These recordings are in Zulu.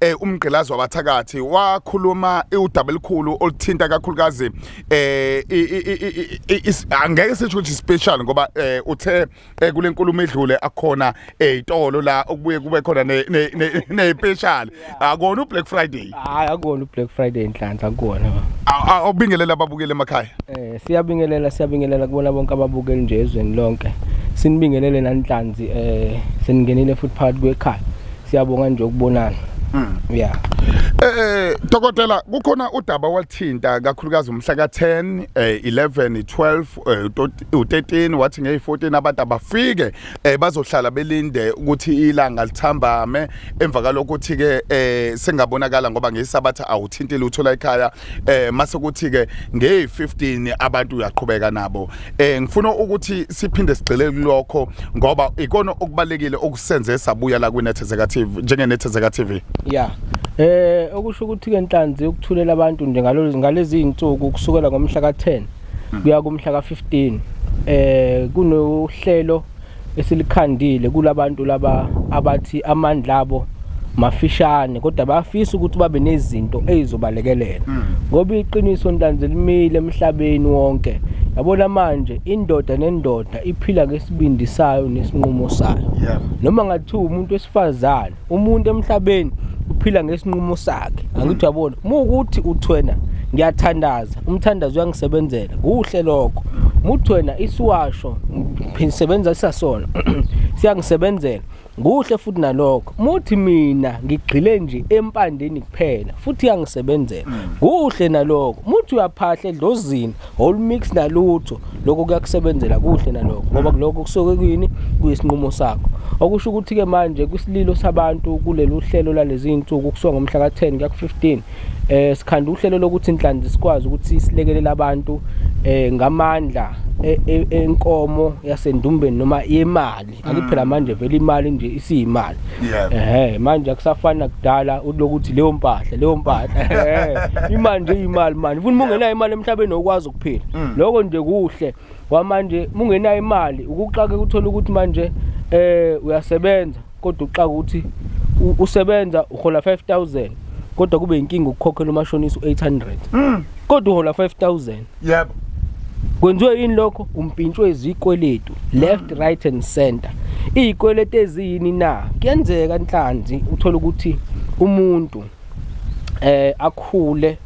eh umgqilazi wabathakathi wakhuluma udaba elikhulu oluthinta kakhulukazi eh angeke sisho ukuthi special ngoba eh, uthe eh, kule nkulumo edlule akhona ezitolo eh, la okubuye kube khona ne special akona u Black Friday hayi akona u Black Friday inhlanhla akona awubingelela ababukeli emakhaya eh siyabingelela siyabingelela kubona bonke ababukeli nje ezweni lonke sinibingelele nanhlanzi eh seningenile futhi phakathi kwekhaya siyabonga nje ukubonana Mm. yeah Eh dokotela kukhona udaba walthinta kakhulukazi umhla ka10 eh 11 12 eh, tot- u13 wathi ngey14 abantu abafike eh bazohlala belinde ukuthi ilanga lithambame emva kalokuthi ke eh sengabonakala ngoba ngesabatha awuthintile uthola ekhaya eh mase kuthi ke nge 15 abantu uyaqhubeka nabo eh ngifuna ukuthi siphinde sigxile kulokho ngoba ikona okubalekile okusenze sabuya la kwi Nethezeka TV njenge Nethezeka TV yeah eh okusho ukuthi ke nhlanzi ukuthulela abantu nje ngalezi ngalezi insuku kusukela ngomhla ka 10 hmm. kuya kumhla ka 15 eh kunohlelo esilikhandile kulabantu laba abathi amandla abo mafishane kodwa bayafisa ukuthi babe nezinto ezizobalekelela mm. ngoba iqiniso ntanzi limile emhlabeni wonke yabona manje indoda nendoda iphila ngesibindi sayo nesinqumo sayo noma ngathiwa umuntu wesifazane umuntu emhlabeni uphila ngesinqumo sakhe angithi uyabona uma ukuthi uthi wena ngiyathandaza umthandazo uyangisebenzela kuhle lokho muthi wena isiwasho ngisebenza sisasona siyangisebenzela kuhle futhi nalokho muthi mina ngigxile nje empandeni kuphela futhi yangisebenzela kuhle nalokho muthi uyaphahla edlozini whole mix nalutho lokho kuyakusebenzela kuhle nalokho ngoba kulokho kusuke kuyini kuyisinqumo sakho okusho ukuthi ke manje kwisililo sabantu kulelu hlelo lalezi insuku kusuka ngomhla ka-10 kuya ku-15 eh sikhanda uhlelo lokuthi inhlanzi sikwazi ukuthi silekelele abantu eh ngamandla e, e, enkomo yasendumbeni noma yemali Angithi phela mm. manje vele imali nje isiyimali. Ehhe manje akusafani nakudala ulokuthi leyo mpahla leyo mpahla. Imali nje imali manje. Ufuna ungenayo imali emhlabeni okwazi ukuphila. Mm. Lokho nje kuhle. Kwamanje ungenayo imali ukuxake uthola ukuthi manje eh uyasebenza kodwa uxaka ukuthi usebenza uhola 5000 kodwa kube inkinga ukukhokhela umashonisa u800. Mm. Kodwa uhola 5000. yebo kwenziwe yini lokho umpintshwe izikweletu left mm. right and center izikweletu eziyini na kuyenzeka inhlanzi uthola ukuthi umuntu eh akhule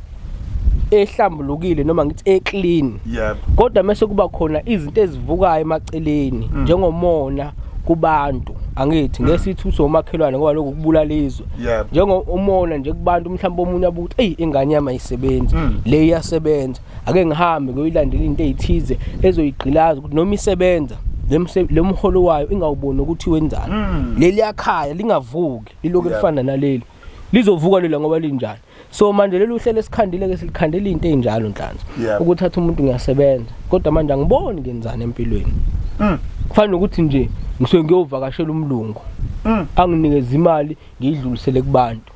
ehlambulukile noma ngithi eclean yebo kodwa mase kuba khona izinto ezivukayo emaceleni mm. njengomona kubantu angithi mm. ngesithuso omakhelwane ngoba lokhu kubulala izwe yebo njengo umona nje kubantu mhlawumbe omunye abuthi eyi ingane yami ayisebenzi mm. le iyasebenza ake ngihambe ngoyilandela into ezithize ezoyigqilaza ukuthi noma isebenza lemholo wayo ingawuboni ukuthi wenzani mm. leli yakhaya lingavuki liloku elifana naleli lizovuka lela ngoba linjani so manje leli uhlelo esikhandile ke silikhandela into enjalo nhlanzi yeah. ukuthatha umuntu ngiyasebenza kodwa manje angiboni ngenzani empilweni mm. kufanele ukuthi nje ngisuke ngiyovakashela umlungu mm. anginikeza imali ngiyidlulisele kubantu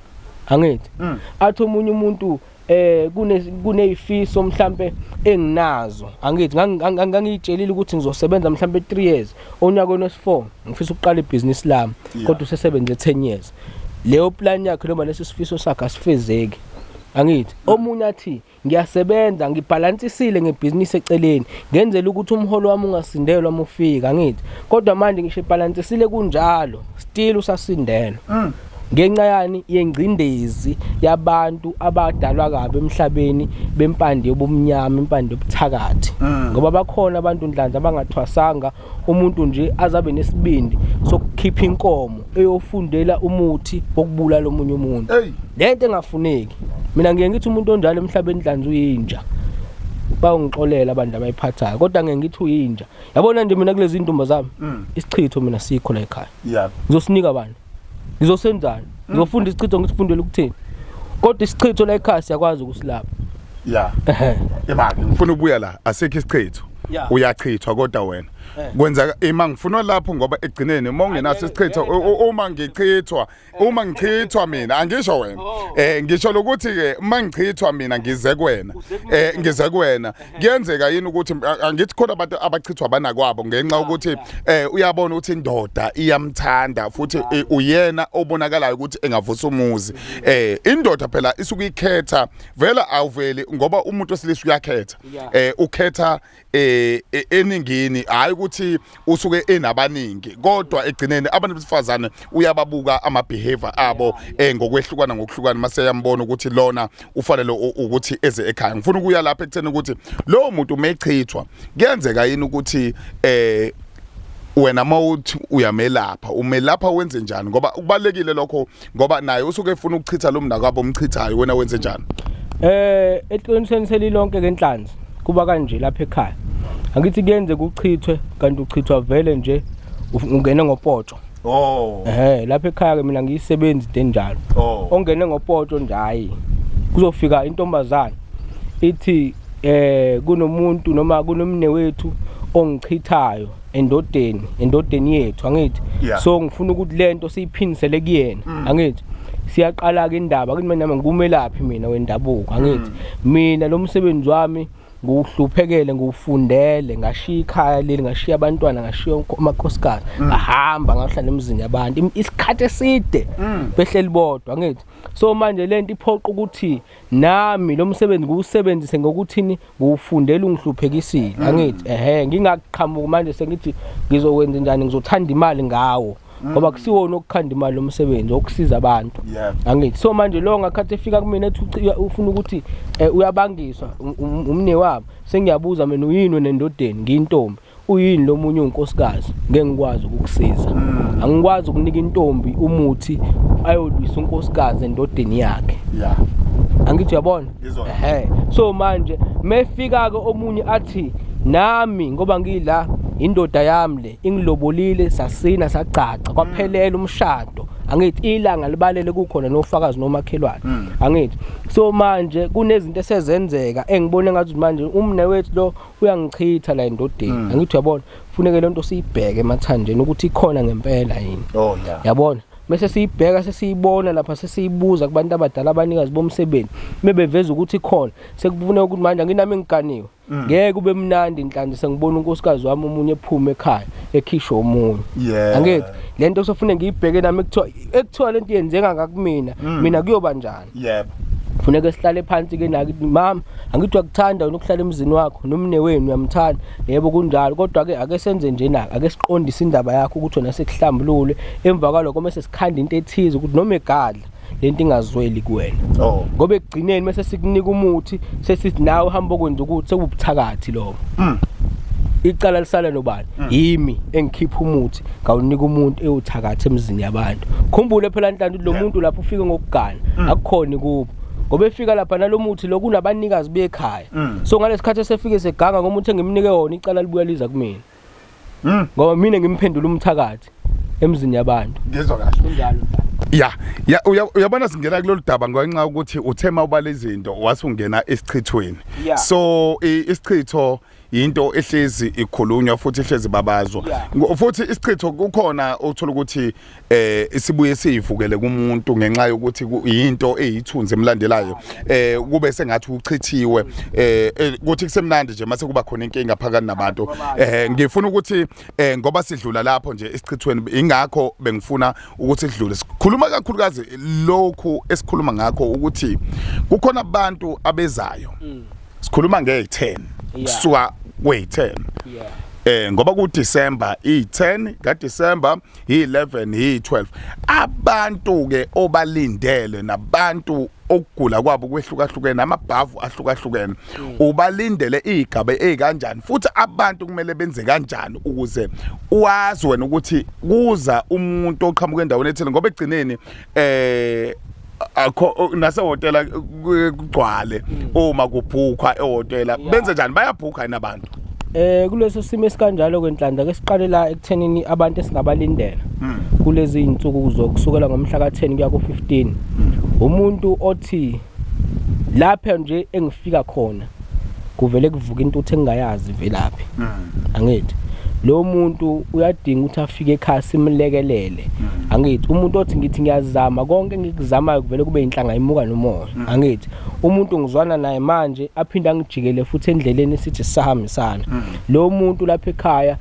angithi mm. athi omunye umuntu eh kune kunezifiso mhlambe enginazo angithi ngangiyitshelile ukuthi ngizosebenza mhlambe 3 years onyakweni wesi4 ngifisa ukuqala ibusiness lami kodwa usesebenze 10 years leyo plan yakhe noma lesi sifiso sakhe asifezeki angithi omunye athi ngiyasebenza ngibhalansisile ngebhizinisi eceleni ngenzela ukuthi umholo wami ungasindelwa uma ufika angithi kodwa manje ngisho ibhalansisile kunjalo still usasindelwa mm. ngenxa yani yengcindezi yabantu abadalwa kabi emhlabeni bempande yobumnyama impande yobuthakathi mm. ngoba bakhona abantu ndlanza abangathwasanga umuntu nje azabe nesibindi sokukhipha inkomo eyofundela umuthi wokubulala omunye umuntu lento engafuneki mina ngiye ngithi umuntu onjalo emhlabeni dlanza uyinja bayongixolela abantu abayiphathayo kodwa ngeke ngithi uyinja yabona nje mina kulezi ndumba zami mm. isichitho mina sikho la ekhaya ngizosinika abantu ngizosenzani ngizofunda isichitho ngisifundele ukuthini kodwa isichitho la ekhaya siyakwazi ukusilapha ya imake ngifuna ukubuya la asekho isichitho Yeah. uyachithwa kodwa wena Eh. kwenza ima ngifuna lapho ngoba ekugcineni uma ungenaso isichitho u- u- uma ngichithwa uma ngichithwa mina angisho wena Oh. eh ngisho lokuthi ke uma ngichithwa mina ngize kuwena eh ngize kuwena kuyenzeka yini ukuthi angithi khona abantu abachithwa banakwabo ngenxa ukuthi eh uyabona ukuthi indoda iyamthanda futhi eh, uyena obonakalayo ukuthi engavusa umuzi eh indoda phela isuke ikhetha vela awuveli ngoba umuntu osilisa uyakhetha eh ukhetha eh e, eningini hayi ukuthi usuke enabaningi kodwa egcineni abantu besifazane uyababuka ama behavior abo eh ngokwehlukana ngokuhlukana mase yambona ukuthi lona ufanele ukuthi eze ekhaya ngifuna ukuya lapha ekutheni ukuthi lo muntu umechithwa kuyenzeka yini ukuthi eh wena mawuthi uyamelapha umelapha wenze njani ngoba kubalekile lokho ngoba naye usuke efuna ukuchitha lo mnakwabo omchithayo wena wenze njani eh eqinisweni selilonke ke inhlanzi kuba kanje lapha ekhaya angithi kuyenze kuchithwe kanti uchithwa vele nje ungene ngopoto oh eh lapha ekhaya ke mina ngiyisebenzi into enjalo oh. ongene ngopoto nje hayi kuzofika intombazana ithi eh kunomuntu noma kunomne wethu ongichithayo endodeni endodeni yethu angithi yeah. so ngifuna ukuthi lento siyiphindisele kuyena mm. angithi siyaqala ke indaba kithi mina ngikumelaphi mina wendabuko angithi mm. mina lo msebenzi wami nguhluphekele ngufundele ngashiya ikhaya leli ngashiya abantwana ngashiya amakhosikazi mm. ngahamba ngahlala emzini yabantu isikhathi eside mm. behleli bodwa ngithi so manje lento iphoqa ukuthi nami lo msebenzi ngiwusebenzise ngokuthini ngiwufundela ungihluphekisile mm. angithi ehe ngingaqhamuki manje sengithi ngizokwenza njani ngizothanda imali ngawo mm. ngoba kusiwona okukhanda imali lomsebenzi okusiza abantu angithi so manje lo ngakhathi efika kumina ethi ufuna ukuthi eh, uyabangiswa um, um, umne wabo sengiyabuza mina uyini nendodeni ngiyintombi uyini lo munye unkosikazi ngeke ngikwazi ukukusiza mm. angikwazi ukunika intombi umuthi ayolwisa unkosikazi endodeni yakhe yeah angithi uyabona ehe so manje mefika ke omunye athi nami ngoba ngila indoda yami le ingilobolile sasina sagcaca kwaphelela mm. umshado angithi ilanga libalele kukhona nofakazi nomakhelwane mm. angithi so manje kunezinto esezenzeka engibone ngathi manje umne wethu lo uyangichitha la endodeni mm. angithi uyabona funeke le nto siyibheke emathanjeni ukuthi ikhona ngempela yini oh, yeah. yabona bese siyibheka sesiyibona lapha sesiyibuza kubantu abadala abanikazi bomsebenzi bebeveza ukuthi khona sekufuneka ukuthi manje nginami ngiganiwe mm. ngeke ube mnandi inhlanzi sengibona unkosikazi wami omunye ephume ekhaya ekhishwe omunye angithi lento sofuneka ngiyibheke nami ekuthiwa ekuthiwa lento yenzeka ngakumina mm. mina kuyoba njani yebo funeka sihlale phansi ke naki mama angithi wakuthanda wena ukuhlala emzini wakho nomne wenu uyamthanda yebo kunjalo kodwa ke ake senze nje naka ake siqondise indaba yakho ukuthi wena sekuhlambulule emva kwaloko mase sikhanda into ethize ukuthi noma egadla lento ingazweli kuwena oh. ngoba ekugcineni mase sikunika umuthi sesithi nawe uhamba okwenza ukuthi sekubuthakathi lokho mm. icala lisala nobani Mm. yimi engikhipha umuthi ngawunika umuntu ewuthakatha emzini yabantu khumbule phela ntantu lo muntu lapho ufike ngokugana mm. akukhona kubo ngoba efika lapha nalomuthi lo kunabanikazi bekhaya mm. so ngalesikhathi esefike seganga ngomuntu engimnike wona icala libuya liza kumina ngoba mina ngimphendula umthakathi emzini yabantu ngizwa kahle kunjalo ya ya uyabona singena kulolu daba ngenxa ukuthi uthema ubale izinto wasungena esichithweni so isichitho yinto ehlezi ikhulunywa futhi ehlezi babazwa futhi isichitho kukhona othola ukuthi eh isibuye sivukele kumuntu ngenxa yokuthi yinto eyithunzi emlandelayo eh kube sengathi uchithiwe eh, eh kuthi kusemnandi nje mase kuba khona inkinga phakathi nabantu eh ngifuna ukuthi eh ngoba sidlula lapho nje esichithweni ingakho bengifuna ukuthi sidlule sikhuluma kakhulukazi lokhu esikhuluma ngakho ukuthi kukhona abantu abezayo mm. sikhuluma nge 10 kusuka kwe 10 eh ngoba ku December i 10 ka December hi-11 hi-12 abantu-ke obalindele nabantu okugula kwabo kwehlukahlukene amabhavu ahlukahlukene mm. ubalindele igaba ezikanjani futhi abantu kumele benze kanjani ukuze wazi wena ukuthi kuza umuntu oqhamuka endaweni ethile ngoba egcineni eh akho nase hotela kugcwale mm. uma kubhukwa ehotela benze njani bayabhukha yini abantu eh kuleso simo esikanjalo kwenhlanhla ke siqale la ekuthenini abantu esingabalindela mm. kulezi insuku kuzokusukela ngomhla ka10 kuya ku15 mm. umuntu othi lapha nje engifika khona kuvele kuvuka intuthu engingayazi velaphi mm. angithi lo muntu uyadinga ukuthi afike ekhaya simlekelele mm. angithi umuntu othi ngithi ngiyazama konke engikuzamayo kuvele kube inhlanga imuka nomoya mm. angithi umuntu ngizwana naye manje aphinde angijikele futhi endleleni sithi sahambisana mm. lo muntu lapha ekhaya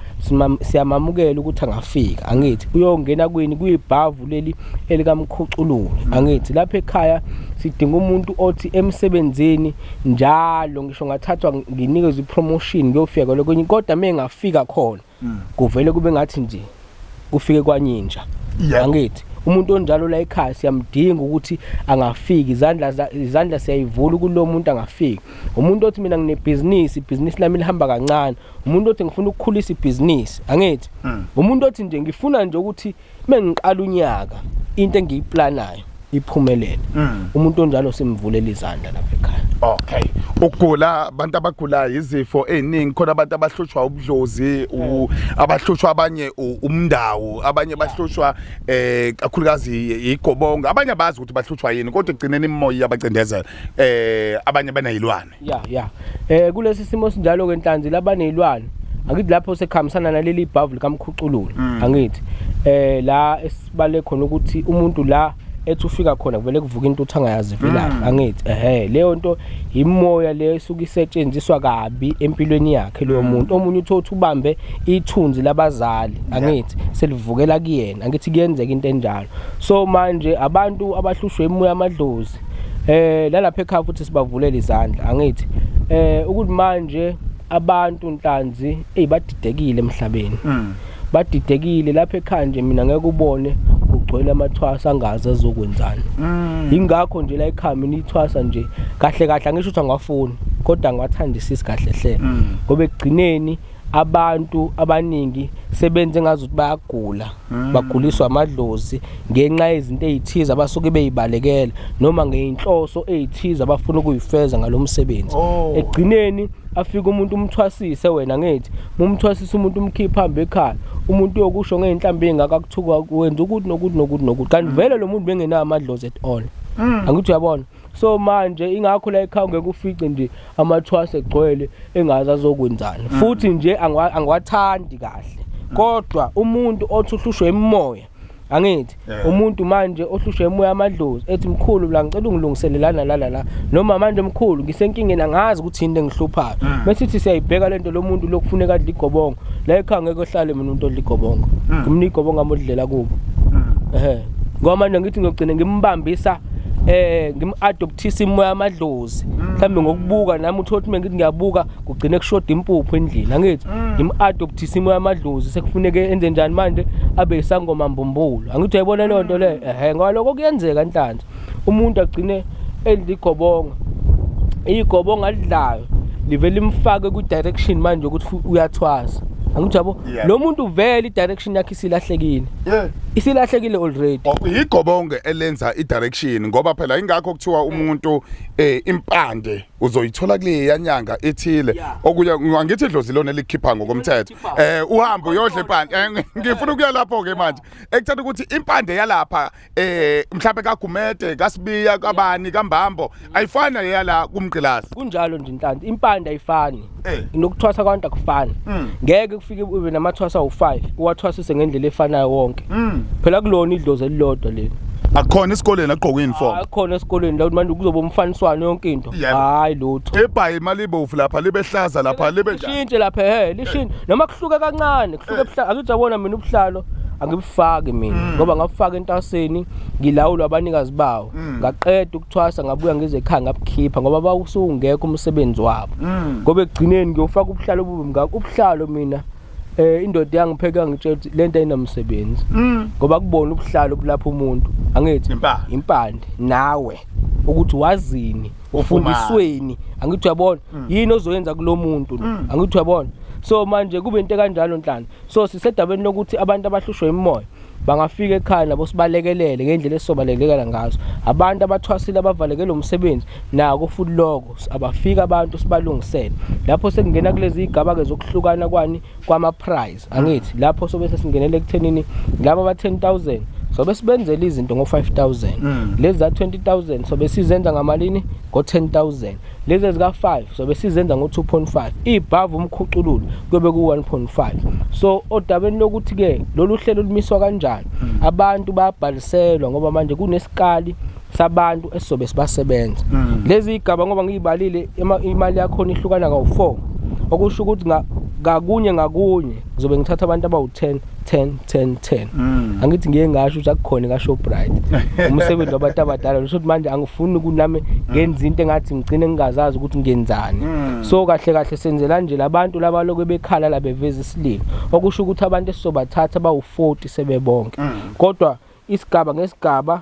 siyamamukela ukuthi angafika angithi uyongena kwini kuyibhavu leli elikamkhucululi angithi lapha ekhaya sidinga umuntu othi emsebenzini njalo ngisho ngathathwa nginikezwe ipromotion ngiyofika kwalo kwenye kodwa mina ngafika khona mm. kuvele kube ngathi nje kufike kwanyinja angithi umuntu onjalo la ekhaya siyamdinga ukuthi angafiki izandla izandla siyayivula kulo muntu angafiki umuntu othi mina nginebhizinisi ibhizinisi lami lihamba kancane umuntu othi ngifuna ukukhulisa ibhizinisi angithi hmm. umuntu othi nje ngifuna nje ukuthi uma ngiqala unyaka into engiyiplanayo iphumelele mm. umuntu onjalo simvulela izandla lapha ekhaya okay ukugula abantu abagulayo izifo eziningi khona abantu abahlushwa ubudlozi mm. abahlushwa abanye umndawo abanye bahlushwa eh kakhulukazi igobonga abanye abazi ukuthi bahlushwa yini kodwa igcineni imoya yabacindezela eh abanye banayilwane ya ya um kulesi simo sinjalo-ke nhlanzi labaneyilwane angithi lapho sekuhambisana naleli bhavu likamkhucululo mm. angithi um la esibale khona ukuthi umuntu la ethi ufika khona kuvele kuvuka into uthi angayazi velaphi mm. angithi ehe leyo nto yimoya leyo esuke isetshenziswa kabi empilweni yakhe loyo mm. muntu omunye uthe uthi ubambe ithunzi labazali angithi selivukela kuyena angithi kuyenzeka into enjalo so manje abantu abahlushwe imoya amadlozi eh lalapha ekhaya futhi sibavulele izandla angithi eh ukuthi manje abantu nhlanzi ey badidekile emhlabeni mm. badidekile lapha ekhaya nje mina ngeke ubone kugcwele amathwasa angazi azokwenzani mm. yingakho nje la ekhaya mina ithwasa nje kahle kahle angisho ukuthi angafuni kodwa ngiwathandisisi kahle hle mm. ngoba ekugcineni abantu abaningi sebenze ngazi ukuthi bayagula Hmm. baguliswa amadlozi ngenxa yezinto ezithize abasuke beyibalekela noma ngeinhloso ezithize abafuna ukuyifeza ngalomsebenzi oh. egcineni afika umuntu umthwasise wena ngithi mumthwasisa umuntu umkhipha hambe ekhaya umuntu uyokusho ngeinhlambi engaka kuthuka wenza ukuthi nokuthi nokuthi nokuthi kanti hmm. vele lo muntu bengenayo amadlozi at all hmm. angithi uyabona so manje ingakho la ekhaya ngeke ufice nje amathwase egcwele engazi azokwenzani mm. futhi nje angiwathandi kahle mm. kodwa umuntu othi uhlushwe imimoya angithi umuntu manje ohlushwe emoya amadlozi ethi mkhulu la ngicela ungilungiselelana la la la noma manje mkhulu ngisenkingeni angazi ukuthi into engihluphayo mm. bese sithi siyayibheka lento lomuntu lokufuneka adle igobongo la ekhaya ngeke ohlale mina umuntu odla igobongo ngimnika igobongo amodlela kubo ehe ngoba manje ngithi ngiyogcina ngimbambisa eh ngim-adoptisa imoya amadlozi mhlawumbe ngokubuka nami uthola ukuthi mengithi ngiyabuka kugcine kushoda impuphu endlini angithi mm. ngim-adoptisa imoya amadlozi sekufuneke enze njani manje abe isangoma mbumbulu angithi uyayibona leyo nto leyo ehe ngoba lokho kuyenzeka nhlanhla umuntu agcine edla igobonga igobonga alidlayo livele limfake kwi-direction manje ukuthi uyathwasa angithi yabo lo muntu vele i-direction yakhe isilahlekile yeah isilahlekile already oh, yigobonge elenza idirection ngoba phela ingakho kuthiwa umuntu eh impande uzoyithola kule yanyanga ethile okuya ngithi idlozi lona elikhipha ngokomthetho eh uhambo uyodla impande eh, ngifuna ukuya lapho ke manje ekuthatha ukuthi impande yalapha eh mhlawumbe kaGumede kaSibiya kabani kaMbambo ayifana leyala kumgqilazi kunjalo nje inhlanhla impande ayifani eh. nokuthwasa kwabantu akufani mm. ngeke kufike ube namathwasa u5 uwathwasise ngendlela efanayo wonke mm. phela kulona idlozi elilodwa leli akukhona esikoleni agqoka uniform akukhona esikoleni la manje kuzoba umfaniswano yonke into hayi lutho ebhayi imali ibovu lapha libe hlaza lapha libe njani lishintshe lapha he lishintshe noma kuhluka kancane akujabona mina ubuhlalo angibufaki mina mm. ngoba ngabufaka entaseni ngilawulwa abanikazi bawo mm. ngaqeda ukuthwasa ngabuya ngize ekhaya ngabukhipha ngoba bawusungekho umsebenzi wabo mm. ngoba ekugcineni ngiyofaka ubuhlalo obubi ngakho ubuhlalo mina eh indoda yangipheka ngitshela ukuthi lento ayinamsebenzi ngoba kubona ubuhlalo bulapha umuntu angithi impande nawe ukuthi wazini ufundisweni angithi uyabona mm. yini ozoyenza kulomuntu mm. angithi uyabona so manje kube into kanjalo nhlana so sisedabeni lokuthi abantu abahlushwe imimoya bangafika ekhaya nabo sibalekelele ngendlela esizobalekela ngazo abantu abathwasile abavalekele umsebenzi nako futhi lokho abafika abantu sibalungisele lapho sekungena kulezi igaba ke zokuhlukana kwani kwama prize angithi lapho sobe sesingenele ekuthenini laba ba 10000 sobe sibenzela izinto ngo 5000 mm. lezi za 20000 sobe sizenza ngamalini ngo 10000 lezi ezika 5 sobe sizenza ngo 2.5 ibhavu umkhucululo kube ku 1.5 so odabeni lokuthi ke lolu hlelo lumiswa kanjani mm. abantu bayabhaliselwa ngoba manje kunesikali sabantu esizobe sibasebenza mm. lezi igaba ngoba ngiyibalile imali yakhona ihlukana kawu-4 okusho ukuthi ngakunye ngakunye ngizobe ngithatha abantu abawu-10 10 10 10 mm. angithi ngiye ngasho ukuthi akukhona kashoprite umsebenzi wabantu abadala ngisho ukuthi manje angifuni kunami ngenza into engathi ngigcine ngingazazi ukuthi ngenzani mm. so kahle kahle senzela nje labantu labalokhu bekhala la beveza isililo okusho ukuthi abantu esizobathatha bawu-40 sebebonke mm. kodwa isigaba ngesigaba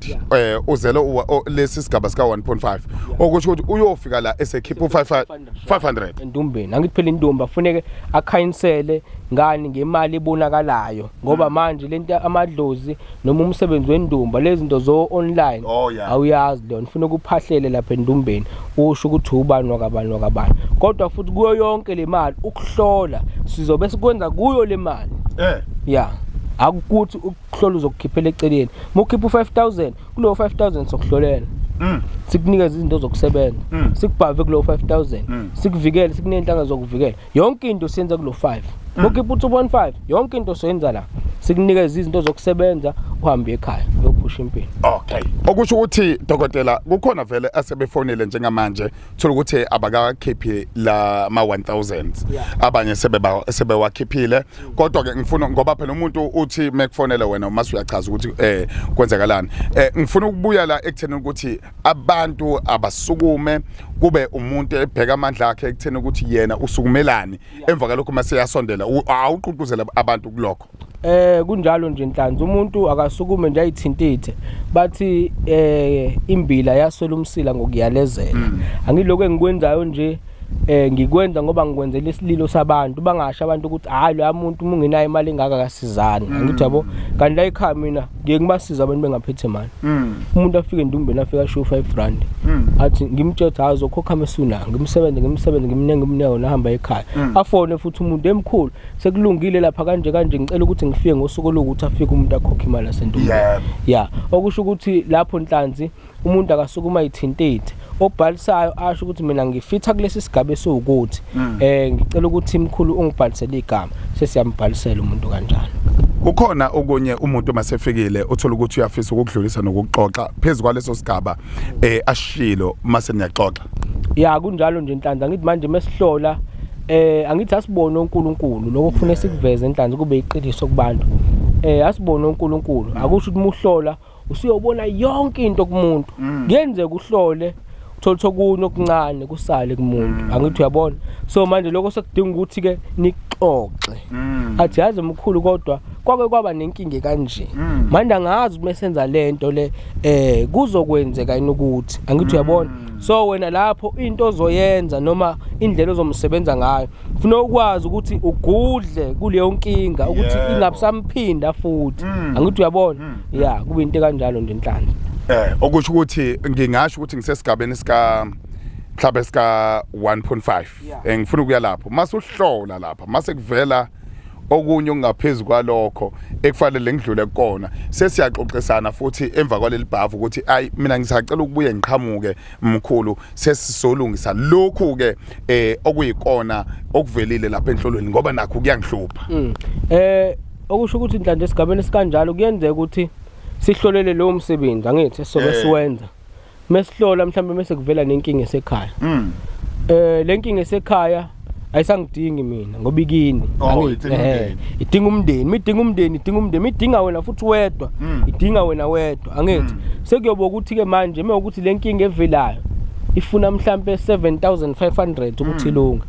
eh uzele lesi sigaba sika 1.5 okusho ukuthi uyofika la esekhipha u500 endumbeni angithi phela intombi afuneke akhayinsele ngani ngemali ebonakalayo ngoba hmm. manje lento amadlozi noma umsebenzi wendumba lezinto zo online oh, awuyazi lona ufuna ukuphahlele lapha endumbeni usho ukuthi ubani wakabani wakabani kodwa futhi kuyo yonke le mali ukuhlola sizobe sikwenza kuyo le mali eh yeah akukuthi kuhlola uzokukhiphela eceleni mukhipha u5000 kulowo 5000 sokuhlolela Mm. sikunikeza izinto zokusebenza Mm. sikubhave kulowo 5000 Mm. sikuvikele sikunenhlanga zokuvikela yonke into siyenza kulo 5 Mm. mukhipha u2.5 yonke into soyenza la sikunikeza izinto zokusebenza uhambe ekhaya uyophusha impilo okay okusho ukuthi dokotela kukhona vele asebefonile njengamanje thola ukuthi abakakhiphi la ma 1000 Yeah. abanye sebeba sebewakhiphile kodwa ke ngifuna ngoba phela umuntu uthi mekufonela wena uma uyachaza ukuthi eh kwenzakalani eh ngifuna ukubuya la ekutheni ukuthi abantu abasukume kube umuntu ebheka amandla akhe ekutheni ukuthi yena usukumelani emva kalokho uma seyasondela awuququzela abantu kulokho eh kunjalo nje inhlanzi umuntu akasukume nje ayithintithe bathi eh imbila yaswela umsila ngokuyalezela mm. angiloko engikwenzayo nje mm. eh ngikwenza ngoba ngikwenzela isililo sabantu bangasho abantu ukuthi hayi lo muntu uma ungenayo imali engaka kasizani mm. ngithi yabo kanti la ekhaya mina ngiye ngibasiza abantu bengaphethe imali mm. umuntu afike endumbeni afike asho 5 rand mm. athi ngimtshetha hazo khokha mesuna ngimsebenze ngimsebenze ngimnenge umneko nahamba ekhaya afone futhi umuntu emkhulu sekulungile lapha kanje kanje ngicela ukuthi ngifike ngosuku lokuthi afike umuntu akhokhe imali asendumbeni yeah okusho ukuthi lapho nhlanzi umuntu akasuke uma ithintithe obhalisayo asho ukuthi mina ngifitha kulesi sigaba esiwukuthi mm. eh ngicela ukuthi imkhulu ungibhalisele igama sesiyambhalisela umuntu kanjalo ukhona okunye umuntu masefikile uthola ukuthi uyafisa ukudlulisa nokuxoxa phezulu kwaleso sigaba eh ashilo mase niyaxoxa ya kunjalo nje inhlanhla ngithi manje mesihlola eh angithi asibone uNkulunkulu lokho kufanele sikuveze enhlanhla kube iqiniso kubantu eh asibone uNkulunkulu akusho ukuthi muhlola usuyobona yonke into kumuntu mm. kuyenzeka uhlole uthola ukuthi okunye okuncane kusale kumuntu mm. angithi uyabona so manje lokho sekudinga ukuthi ke nixoxe mm. athi yazi mkhulu kodwa kwake kwaba nenkinga kanje mm. manje angazi uma senza lento le eh kuzokwenzeka yini ukuthi angithi uyabona so wena lapho into ozoyenza noma indlela ozomsebenza ngayo funa ukwazi ukuthi ugudle kuleyo nkinga ukuthi Yebo. ingabusamphinda futhi Mm. angithi uyabona Mm. ya kube into kanjalo nje enhlanhla Eh okusho ukuthi ngingasho ukuthi ngisesigabeni sika mhlawumbe sika 1.5 Yeah. Eh, ngifuna ukuya lapho mase uhlola lapha mase kuvela okunye okungaphezulu kwalokho ekufanele ngidlule kukona sesiyaxoxisana futhi emva kwaleli bhavu ukuthi ayi mina ngisacela ukubuye ngiqhamuke mkhulu sesisolungisa lokhu ke eh okuyikona okuvelile lapha enhlolweni ngoba nakho kuyangihlupha mm. eh okusho ukuthi inhlanhla esigabeni sikanjalo kuyenzeka ukuthi sihlolele lowo msebenzi angithi sobe eh. siwenza mesihlola mhlawumbe mese kuvela nenkinga esekhaya mm. eh lenkinga esekhaya ayisangidingi mina ngoba ikini Oh, Angi- idinga eh, umndeni. idinga umndeni midinga umndeni idinga umndeni midinga wena futhi wedwa Mm. idinga wena wedwa angithi Mm. sekuyoba ukuthi ke manje uma ukuthi le nkinga evelayo ifuna mhlampe 7500 Mm. ukuthi ilunge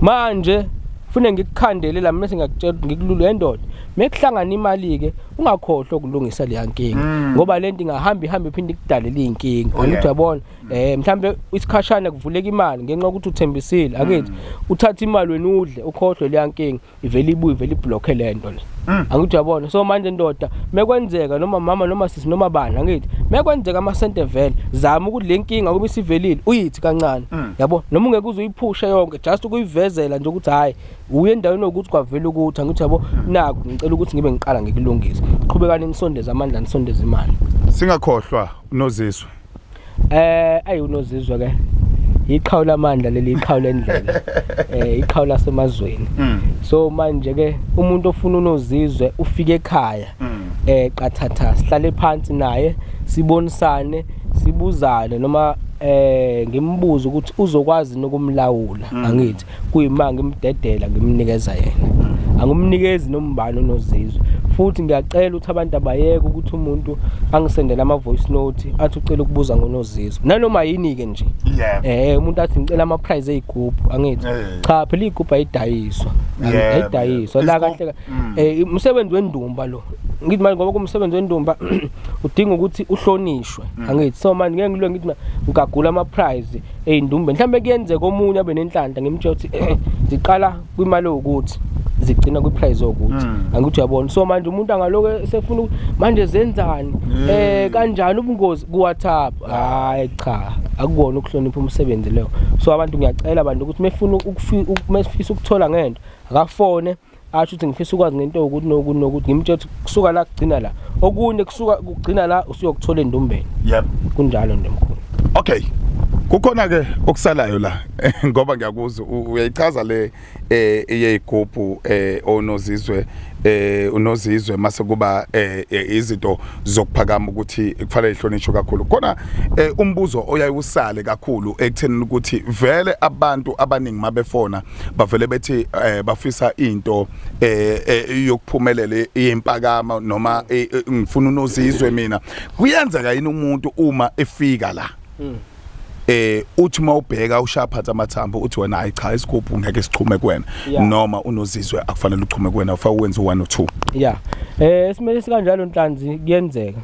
manje fune ngikukhandele la mina singakutshela ukuthi ngikululu yendoda mekuhlangana imali ke ungakhohlwa ukulungisa leya nkinga Mm. ngoba lento ingahamba ihambe iphinde ikudalele izinkinga Oh, yeah. angithi uyabona eh mhlambe isikhashana kuvuleka imali ngenxa ukuthi uthembisile akithi mm. uthatha imali wena udle ukhohlwe leya nkinga ivele ibuye ivele iblock lento le mm. angithi uyabona so manje ndoda mekwenzeka noma mama noma sisi noma bani angithi mekwenzeka ama sente vele zama ukuthi le nkinga kube sivelile uyithi kancane mm. yabo noma ungeke uze uyiphushe yonke just ukuyivezela nje ukuthi hayi uye endaweni yokuthi kwavela ukuthi angithi yabo naku ngicela ukuthi ngibe ngiqala ngikulungisa qhubekani nisondeze amandla nisondeze imali singakhohlwa unoziswe eh ayi unozizwa ke iqhawu lamandla leli iqhawu lendlela eh iqhawu lasemazweni mm. so manje ke umuntu ofuna unozizwe ufike ekhaya mm. eh qathatha sihlale phansi naye sibonisane sibuzane noma eh ngimbuza ukuthi uzokwazi nokumlawula mm. angithi kuyima ngimdedela ngimnikeza yena angimnikezi nombani onozizwe futhi ngiyacela ukuthi abantu abayeke ukuthi umuntu angisendele ama-voice note athi ucela ukubuza ngonozizwe nanoma yini-ke nje yeah. eh umuntu athi ngicela ama-prize ey'gubhu angithi yeah. cha phela iy'gubhu ayidayiswa yeah. ayidayiswa la kahle um mm. eh, umsebenzi wendumba lo ngithi manje ngoba kumsebenzi wendumba udinga ukuthi uhlonishwe mm. angithi so manje ngeke ngilwe ngithi ngigagula ama-prize ey'ndumbeni mhlawumbe kuyenzeka omunye abe nenhlanhla ngimtshela ukuthi eh, ziqala kwimali ewukuthi zigcina kwiprice okuthi hmm. angithi uyabona so manje umuntu angaloku esefuna manje zenzani hmm. eh kanjani ubungozi kuWhatsApp hayi cha akukona ukuhlonipha umsebenzi leyo so abantu ngiyacela abantu ukuthi mefuna ukufisa ukuthola ngento akafone asho ukuthi ngifisa ukwazi ngento yokuthi nokuthi nokuthi ngimtshela ukuthi kusuka la kugcina la okunye kusuka kugcina la usuyokuthola endumbeni yep kunjalo nje mkhulu okay kukhona ke okusalayo la ngoba ngiyakuzwa uyayichaza le eh eyigubhu eh onozizwe eh unozizwe mase kuba eh, eh izinto zokuphakama ukuthi kufanele ihlonishwe kakhulu khona eh, umbuzo oyayusale kakhulu ekuthenini ukuthi vele abantu abaningi mabefona bavele bethi eh, bafisa into eh, eh yokuphumelela yempakama noma eh, eh, ngifuna unozizwe mina kuyenzeka yini umuntu uma efika la hmm. eh uthi uma ubheka ushaphatha amathambo uthi wena hayi cha isigubhu ngeke sichume kuwena noma unozizwe akufanele uchume kuwena ufa wenze 1 or 2 yeah eh esimele sikanjalo nhlanzi kuyenzeka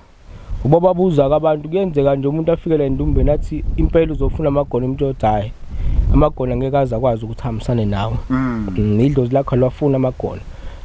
Uma babuza kabantu kuyenzeka nje umuntu afike la endumbeni athi impela uzofuna amagona umuntu othi hhayi amagona ngeke aze akwazi ukuthi ahambisane nawe mm. mm, idlozi lakho lwafuna amagona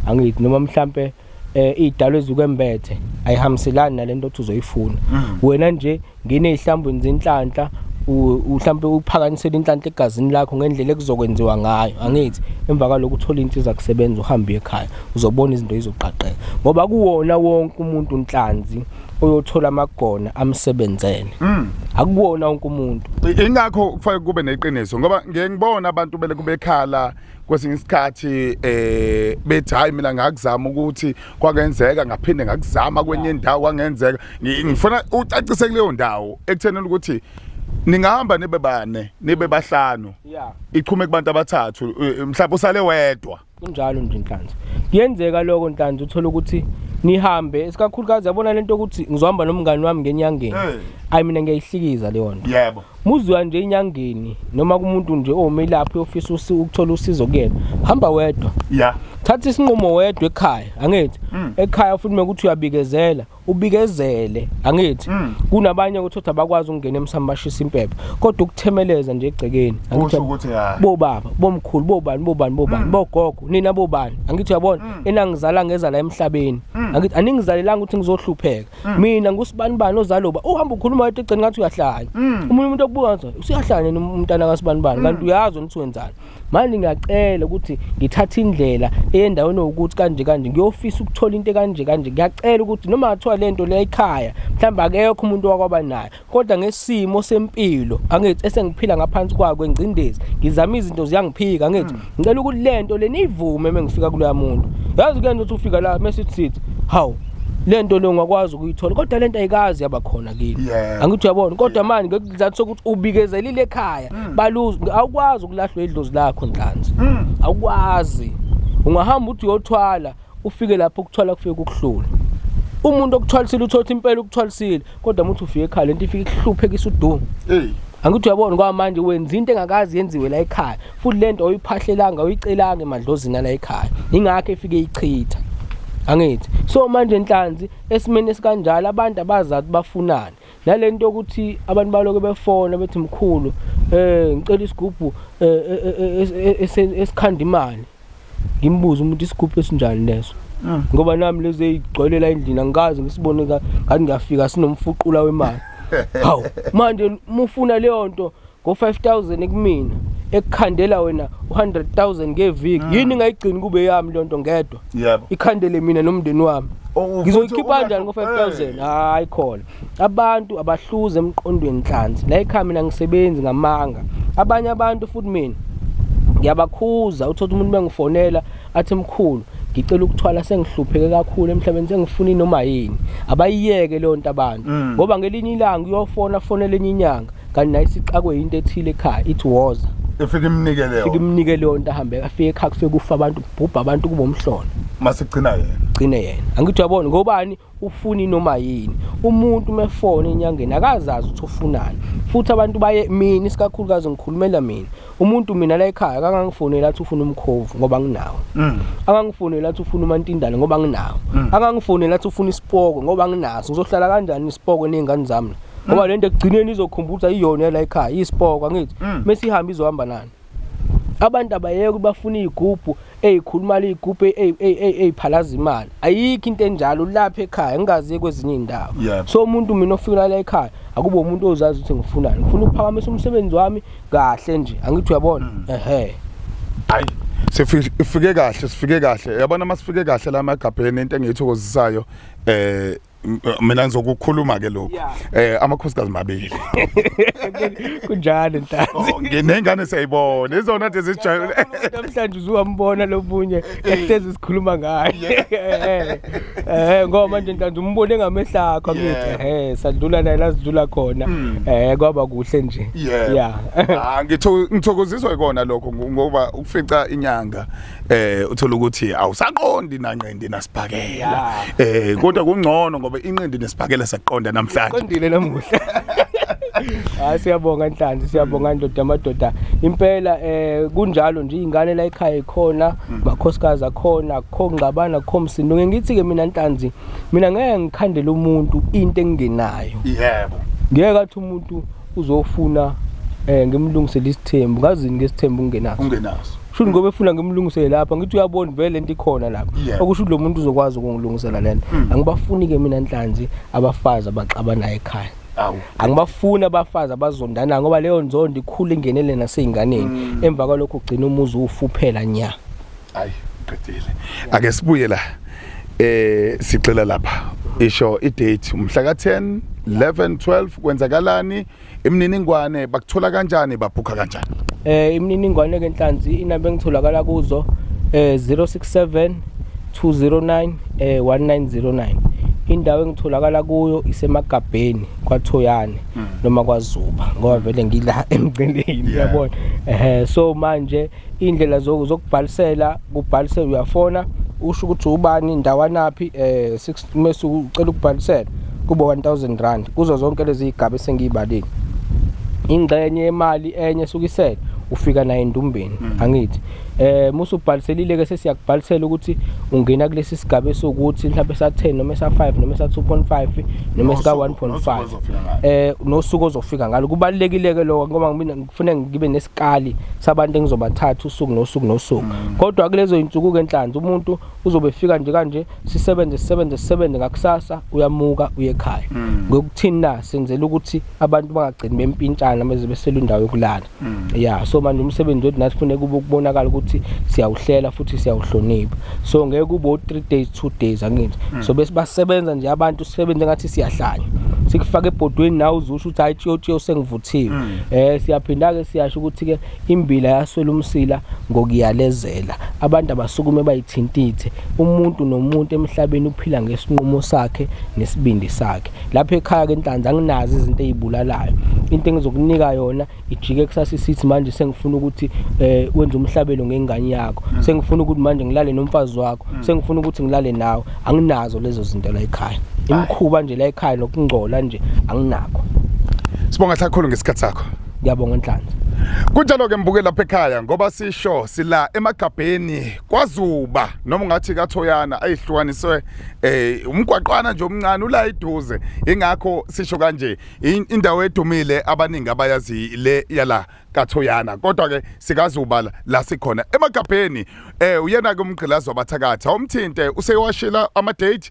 angithi noma mhlampe um eh, iy'dalo ezikwembethe ayihambiselani nale nto othi uzoyifuna mm. wena nje ngine ey'hlambweni zenhlanhla mhlawumbe uphakanyisela inhlanhla egazini lakho ngendlela ekuzokwenziwa ngayo angithi emva kwalokho uthola insizwa kusebenza uhambe ekhaya uzobona izinto izoqaqeka ngoba kuwona wonke umuntu unhlanzi oyothola amagona amsebenzele mm. akuwona wonke umuntu ingakho kufanele kube neqiniso ngoba ngeke ngibona abantu bele kubekhala kwesinye isikhathi eh bethi hayi mina ngakuzama ukuthi kwakenzeka ngaphinde ngakuzama kwenye indawo kwangenzeka ngifuna ucacise kuleyo ndawo ekuthenini ukuthi ningahamba nibe bane nibe bahlanu ichume kubantu abathathu eh, mhlawumbe usale wedwa kunjalo nje nhlanzi kuyenzeka loko nhlanzi uthola ukuthi nihambe isikakhulukazi yabona lento ukuthi ngizohamba nomngani wami ngenyangeni ayi mina ngiyayihlikiza leyo nto yebo muziwa nje inyangeni noma kumuntu nje ome lapho yofisa usi ukuthola usizo kuyena hamba wedwa yeah thatha isinqumo wedwa ekhaya angithi mm. ekhaya futhi mekuthi uyabikezela ubikezele angithi mm. kunabanye ukuthi uthi abakwazi ukungena emsamo bashisa impepho kodwa ukuthemeleza nje egcekeni angithi ukuthi hayi bobaba bomkhulu bobani bobani bobani mm. bogogo nina bobani angithi uyabona mm. enangizala ngeza la emhlabeni angithi aningizalelanga ukuthi ngizohlupheka mina ngusibani bani ozaloba uhamba ukhuluma wathi egceni ngathi uyahlanya umuntu umuntu okubuka ngathi usiyahlanya umntana kasibani bani kanti uyazi ukuthi wenzani manje ngiyacela ukuthi ngithathe indlela eyendaweni ukuthi kanje kanje ngiyofisa ukuthola into kanje kanje ngiyacela ukuthi noma ngathiwa le nto le ekhaya mhlawumbe akekho umuntu wakwaba nayo kodwa ngesimo sempilo angithi esengiphila ngaphansi kwakho engcindezi ngizama izinto ziyangiphika angithi hmm. ngicela ukuthi le nto le niyivume uma ngifika kuloya muntu yazi kuyena ukuthi ufika la mese sithi hawu lento lo ngakwazi ukuyithola kodwa lento ayikazi yaba khona kini angithi uyabona kodwa manje isizathu sokuthi ubikezelile ekhaya mm. baluzi awukwazi ukulahlwa idlozi lakho nhlanzi mm. awukwazi ungahamba uthi uyothwala ufike lapho ukuthwala kufike kukuhlula umuntu okuthwalisile uthothi impela ukuthwalisile kodwa muthi ufike ekhaya lento ifike ihluphekisa udumo hey angithi uyabona kwamanje wenza into engakazi yenziwe la ekhaya futhi lento oyiphahlelanga uyicelanga emadlozini la ekhaya ingakho efike ichitha angithi so manje inhlanzi esimeni esikanjalo abantu abazazi bafunani nale nto yokuthi abantu baloke befona bethi mkhulu eh ngicela isigubhu eh, eh, eh, esikhanda imali ngimbuze umuntu isigubhu esinjani leso ah. ngoba nami lezo eyigcwelela endlini angikazi ngisibone ngathi ngiyafika sinomfuqula wemali hawu manje mufuna leyo nto ngo-5000 kumina ekukhandela wena u-100000 ngeviki mm. yini ingayigcini kube yami loo nto ngedwa yebo ikhandele mina nomndeni wami oh, ngizoyikhipha njani ngo-5000 hayi khona abantu abahluze emqondweni nhlanzi la ekhaya mina ngisebenzi ngamanga abanye abantu futhi mina ngiyabakhuza uthola umuntu bengifonela athi mkhulu ngicela ukuthwala sengihlupheke kakhulu emhlabeni sengifuna inoma yini abayiyeke leyo nto abantu mm. ngoba ngelinye ilanga uyofona fonela enye inyanga kanti naye sixakwe yinto ethile ekhaya ithi woza efike imnike leyo fike imnike leyo nto ahambe afike ekhaya kufike kufa abantu kubhubha abantu kubo mhlolo masigcina yena gcine yena angithi uyabona ngobani ufuni noma yini umuntu umefone enyangeni akazazi ukuthi ufunani futhi abantu baye mina isikakhulukazi ngikhulumela mina umuntu mina la ekhaya akangangifonela athi ufuna umkhovu ngoba nginawo mm. akangifonela athi ufuna umantindane ngoba nginawo mm. akangifonela athi ufuna isipoko ngoba nginaso ngizohlala kanjani isipoko nezingane zami ngoba mm. lento ekugcineni izokhumbuza iyona la ekhaya isipoko angithi mesihambe izohamba nani abantu abayeke bafuna izigubhu eyikhuluma liyigubhe eyiphalaza imali ayikho into enjalo ulapha ekhaya ngingaziye kwezinye iy'ndawo Yebo. so umuntu mina ofikela la ekhaya akube umuntu ozazi ukuthi ngifunani ngifuna ukuphakamisa umsebenzi wami kahle nje angithi uyabona Mm. ehe hayi sifike kahle sifike kahle yabona uma sifike kahle la emagabheni into engiyithokozisayo eh mina ngizokukhuluma ke lokho eh amakhosikazi mabili kunjalo ntanzi oh, nginengane siyayibona izona nje zijayile namhlanje uzuwambona lobunye eh, eh. ehlezi sikhuluma ngaye eh, eh ngoba nje ntanzi umbone ngamehlakho ngithi eh sadlula naye lasidlula khona hmm. eh kwaba kuhle nje yeah ah, ngithokoziswa ikona lokho ngoba ukufica inyanga eh uthola ukuthi awusaqondi nanqindi nasibhakela eh kodwa kungcono ngoba inqindi nesibhakela saqonda namhlanje qondile namuhla hayi siyabonga nhlanzi siyabonga ndoda amadoda impela eh kunjalo nje ingane la ekhaya ikhona makhosikazi akhona akho ngqabana akho msindo ngithi ke mina nhlanzi mina ngeke ngikhandele umuntu into engingenayo yebo ngeke athi umuntu uzofuna eh ngimlungisele isithembu ngazini ngesithembu ungenaso ungenaso Sho ngoba efuna ngimlungisele lapha ngithi uyabona vele lento ikhona lapha. Yeah. Okusho ukuthi lo muntu uzokwazi ukungilungisela lento. Mm. Angibafuni ke mina nhlanzi abafazi abaxabanayo ekhaya. Awu. Angibafuni abafazi abazondana ngoba leyo nzondo ikhulu ingenele naseyinganeni. Mm. Emva kwalokho ugcina umuzi ufuphela nya. Ayi, qedile. Ake sibuye la. Eh sicela lapha. Isho i date umhla ka 10, 11, 12 kwenzakalani? Imininingwane bakuthola kanjani babhukha kanjani? Eh imininingwane ke Nhlanzi inamba engitholakala kuzo eh 067 209 eh 1909. Indawo engitholakala kuyo isemagabheni kwaThoyane hmm. noma kwaZuba ngoba vele ngila emgcineni yabona. Eh so manje indlela zokubhalisela kubhalisela uyafona usho ukuthi ubani ndawanaphi eh uma usucela ukubhalisela kube 1000 rand kuzo zonke lezi igaba esengiyibalile ingxenye yemali enye esukisele ufika naye endumbeni mm. angithi eh musu ubhaliselile ke sesiyakubhalisela ukuthi ungena kulesi sigaba esokuthi mhlawumbe sa 10 noma sa 5 noma sa 2.5 noma sika 1.5 eh nosuku ozofika ngalo kubalekile ke lokho ngoba mina ngifuna ngibe nesikali sabantu engizobathatha usuku nosuku nosuku mm. kodwa kulezo insuku ke enhlanzi umuntu uzobe efika nje kanje sisebenze sisebenze sisebenze ngakusasa uyamuka uye ekhaya mm. ngokuthini na senzela ukuthi abantu bangagcini bempintshana meze besela indawo yokulala mm. ya so manje umsebenzi wethu nathi funeka ukubonakala ukuthi siyawuhlela futhi siyawuhlonipha so ngeke kube o-3 days 2 days angithi mm. so bese basebenza nje abantu sisebenze ngathi siyahlanya sikufaka ebhodweni nawe uzusho ukuthi hayi tshiyotshiyo sengivuthiwe um siyaphinda-ke siyasho ukuthi-ke Imbila yaswela umsila ngokuyalezela. Abantu abasukume bayithintithe. Umuntu nomuntu emhlabeni uphila ngesinqumo sakhe nesibindi sakhe. Lapha ekhaya ke Nhlanzi anginazi izinto ezibulalayo. Into engizokunika yona ijike kusasa isithi manje sengifuna ukuthi eh wenze umhlabelo ngengane yakho. Mm. Sengifuna ukuthi manje ngilale nomfazi wakho. Mm. Sengifuna ukuthi ngilale nawe. Anginazo lezo zinto la ekhaya. Imkhuba nje la ekhaya nokungcola nje anginakho. Sibonga hlakhulu ngesikhatsi sakho. ngiyabonga nhlanhla kunjalo ke mbuke lapha ekhaya ngoba sisho sila emagabheni kwazuba noma ungathi kathoyana ayihlukaniswe eh umgwaqwana nje omncane ula iduze ingakho sisho kanje indawo edumile abaningi abayazi le yala kathoyana kodwa ke sikazuba la sikhona emagabheni eh uyena ke umgqilazi wabathakatha umthinte useyowashila ama date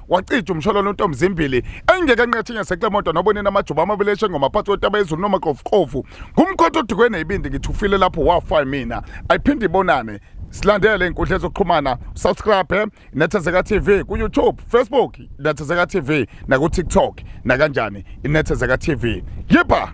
wacija umsholwana untombi zimbili engeke enqethe ngeseklemoto nobonini amajuba amabili eshengoma phansi kwentaba yezulu nomaqofuqofu ngumkhotha odukwe neyibindi ngithi ufile lapho wafa mina ayiphinde ibonane silandele inkundla ezokuxhumana subscribe inethezeka tv kuyoutube facebook inethezeka tv nakutiktok nakanjani inethezeka tv yipha